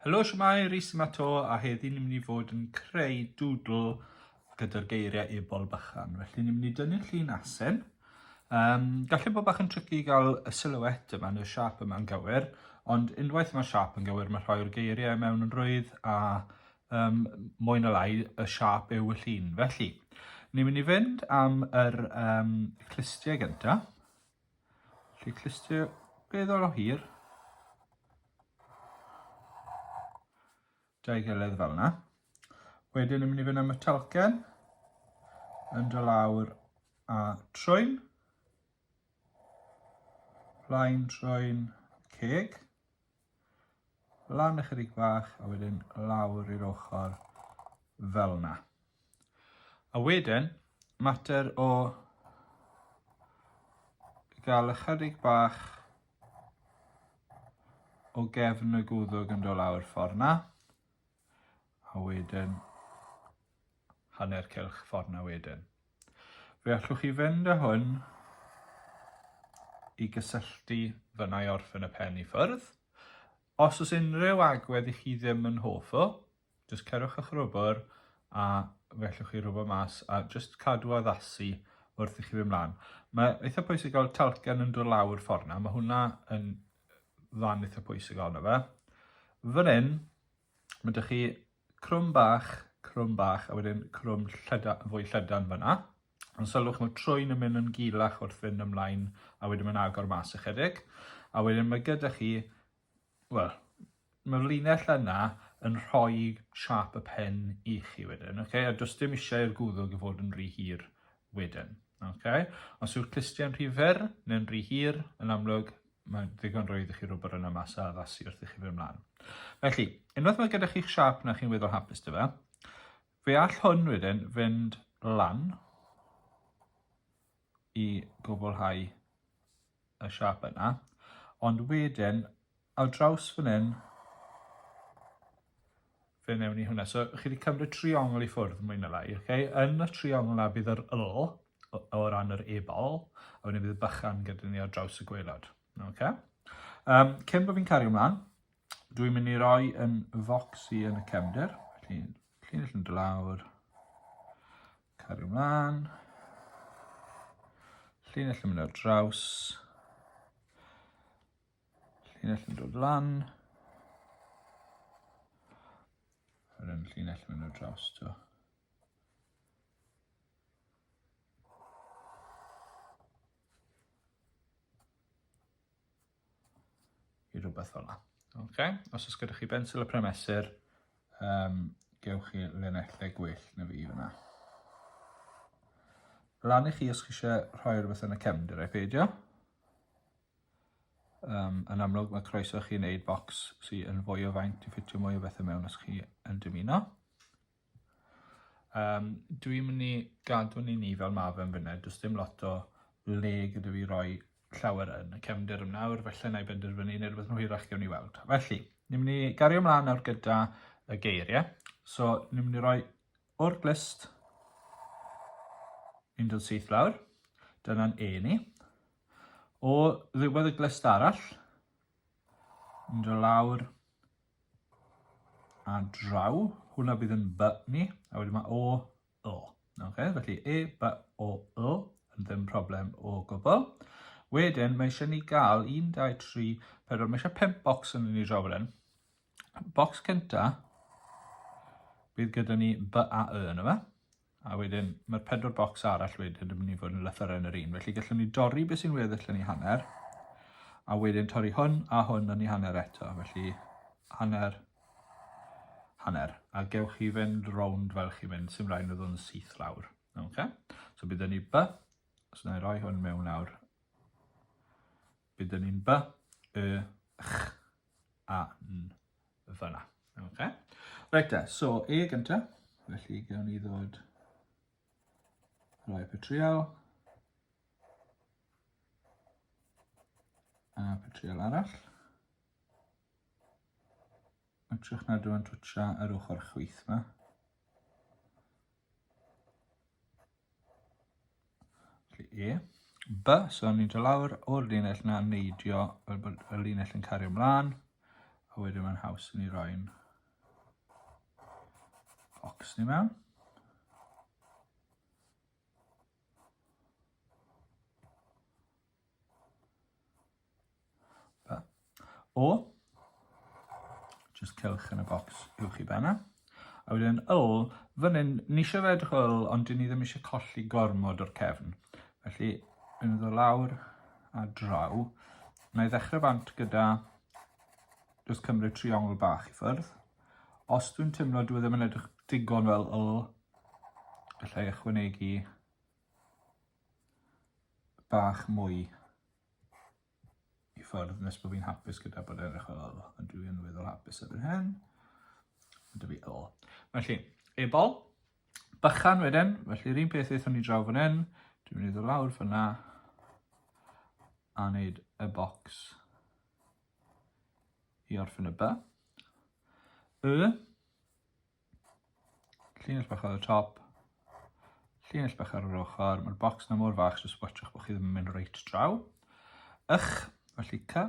Helo, siwmai, Rhys yma to, a heddi ni'n mynd i fod yn creu dŵdl gyda'r geiriau ebol bychan. Felly ni'n mynd i dynnu'r llun asen. Um, gallu bod bach yn tricky i gael y silhouette yma, neu'r siap yma'n gywir, ond unwaith mae'r siap yn gywir, mae rhoi'r geiriau mewn yn rwydd a um, mwy na lai y siap yw y llun. Felly, ni'n mynd i fynd am yr um, clustiau gynta. Felly clustiau beddol o hir. Dau gilydd fel yna. Wedyn ni'n mynd i fynd am y talcen. Yn dy lawr a trwyn. Plaen trwyn ceg. lan ychydig bach a wedyn lawr i'r ochr fel yna. A wedyn, mater o gael ychydig bach o gefn y gwddwg yn dod lawr ffordd yna. A wedyn hanner cylch ffordd na wedyn. Fe allwch chi fynd â hwn i gysylltu fyna i orffen y pen i ffwrdd. Os oes unrhyw agwedd i chi ddim yn hoff o, jyst cerwch eich rwbr a fe allwch chi rwbr mas a jyst cadw addasu wrth i chi fy mlaen. Mae eitha pwysig gael talcen yn dod lawr ffordd na, mae hwnna yn fan eitha pwysig ond fe. Fan hyn, Mae dych chi crwm bach, crwm bach, a wedyn crwm llyda, fwy llydan fyna. Ond sylwch mae trwy'n yn mynd yn gilach wrth fynd ymlaen, a wedyn mae'n agor mas ychydig. A wedyn mae gyda chi, wel, mae'r linell yna yn rhoi siap y pen i chi wedyn, okay? a does dim eisiau'r gwddwg i fod yn rhy hir wedyn. Okay? Os yw'r clustiau'n rhy fyr neu'n rhy hir, yn amlwg, Mae'n ddigon rhwydd i chi rwbr yna mas a addasu wrth i chi fynd mlaen. Felly, unwaith mae gyda chi'ch siap na chi'n weddol hapus dy fe, fe all hwn wedyn fynd lan i gwblhau y siap yna, ond wedyn ar draws fan hyn fe newn ni hwnna. So, chi wedi cymryd triongl i ffwrdd, mwy na lai. Okay? Yn y triongl na bydd yr yl o, o ran yr ebol, a wedyn bydd y bychan gyda ni ar draws y gweilod. Okay? Um, cyn bod fi'n cario ymlaen, dwi'n mynd i roi yn focs i yn y cefnder. Felly, llun allan dylawr. Cario ymlaen. Llun allan mynd ar draws. Llinell yn dod lan. Yr un llinell yn mynd draws to. I rhywbeth fel yna. Okay. Os oes gyda chi bensil y premesur, um, gewch chi linellau gwell na fi fyna. Lan i chi os chi eisiau rhoi rhywbeth yn y cefndir, ei peidio. Yym, yn amlwg mae croeso chi wneud bocs sy yn fwy o faint i ffitio mwy o bethau mewn os chi yn dymuno. Um, dwi'n mynd i gadw ni ni fel mae fe'n fynnau, does dim lot o le gyda fi roi llawer yn y cefnder yn nawr, felly na i benderfynu neu rhywbeth yn hwyrach gewn ni weld. Felly, ni'n mynd i gario ymlaen nawr gyda y geiriau. So, ni'n mynd i roi o'r glist 17 lawr. Dyna'n e ni. O ddiwedd y glust arall, yn dod lawr a draw, hwnna bydd yn by ni, a wedyn mae o, o. Okay? Felly e, by, o, o, yn ddim problem o gwbl. Wedyn, mae eisiau ni gael 1, 2, 3, 4, mae eisiau 5 bocs yn ni draw fan Bocs cynta, bydd gyda ni by a y yn yma. A wedyn, mae'r pedwar bocs arall wedyn yn mynd i fod yn lythyren yr un. Felly gallwn ni dorri beth sy'n weddill yn ei hanner, a wedyn torri hwn a hwn yn ei hanner eto. Felly hanner, hanner. A gewch chi fynd rownd fel chi fynd, sy'n rhaid nhw yn syth lawr. Okay? So bydd ni by, os so na i roi hwn mewn nawr. Be da ni'n ba? Y, ch, a, n, fyna. Okay. Right da, so E gynta. Felly gawn ni ddod rhoi petriol. A petriol arall. Mae'n trwch nad yw'n twtio yr ochr chwyth yma. E. B, so ni'n dod lawr o'r linell na neidio fel bod y linell yn cario ymlaen, a wedyn mae'n haws i ni roi'n bocs ni mewn. O, just cewch yn y bocs uwch i benna. A wedyn ol, fan hyn, ni eisiau fe edrych ol, ond dyn ni ddim eisiau colli gormod o'r cefn. Felly, yn ddod lawr a draw, na i ddechrau bant gyda just cymryd triongl bach i ffyrdd. Os dwi'n teimlo dwi e ddim yn edrych digon fel ol, gallai ychwanegu bach mwy i ffwrdd nes bod fi'n hapus gyda bod edrych fel hyn, ond dwi yn weddol hapus erbyn hyn. Ond fi o. Felly, ebol, bychan wedyn, felly yr un peth eithon ni draw fan hyn, dwi'n mynd i ddod lawr fyna a wneud y bocs i orffen y by. Y, Llinell bach ar y top. Llinell bach ar yr ochr. Mae'r bocs na mor fach jyst watchwch bod chi ddim yn mynd reit draw. Ych, felly ca.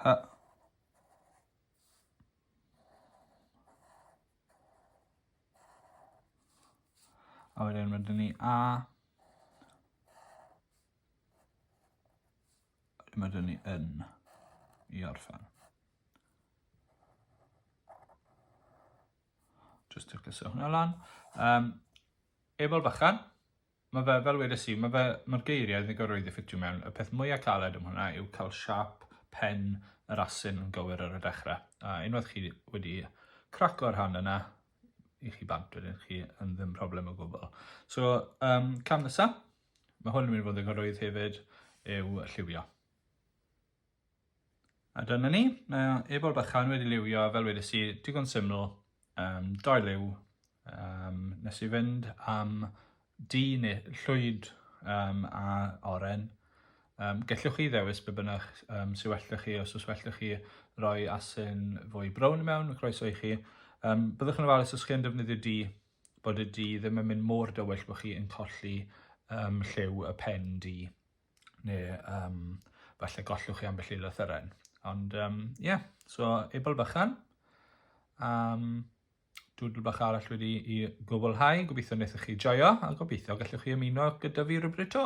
Ha. A wedyn ma' 'da ni A. Wedyn ma' 'da ni yn i orffen. Jyst ticleso hwnna lan. Yym Ebol Bychan. Mae fe, fel wedes i, mae fe, mae'r geiriau yn ddigoroedd i ffitio mewn. Y peth mwya' caled am hwnna yw cael siâp pen yr asyn yn gywir ar y dechre', a unwaith chi wedi craco'r rhan yna, i chi bant wedyn, chi yn ddim problem o gwbl. So, um, cam nesa, mae hwn yn mynd i fod yn ddigoroedd hefyd, yw lliwio. A dyna ni, mae ebol bychan wedi liwio, fel wedes i, digon syml, um, dau liw, um, nes i fynd am di neu llwyd um, a oren. Um, gellwch chi ddewis be bynnag um, sy'n well da chi, os oes well da chi roi asyn fwy brown mewn, croeso i chi. Um, byddwch yn ofalus os chi'n defnyddio di, bod y di ddim yn mynd mor dywyll bod chi'n colli um, lliw y pen di. neu um, falle gollwch chi ambell i lythyren. Ond ie, um, yeah. so ebol bychan. Um, dwdl bach arall wedi i gwblhau. Gobeithio wnaethoch chi joio a gobeithio gallwch chi ymuno gyda fi rhywbryd to.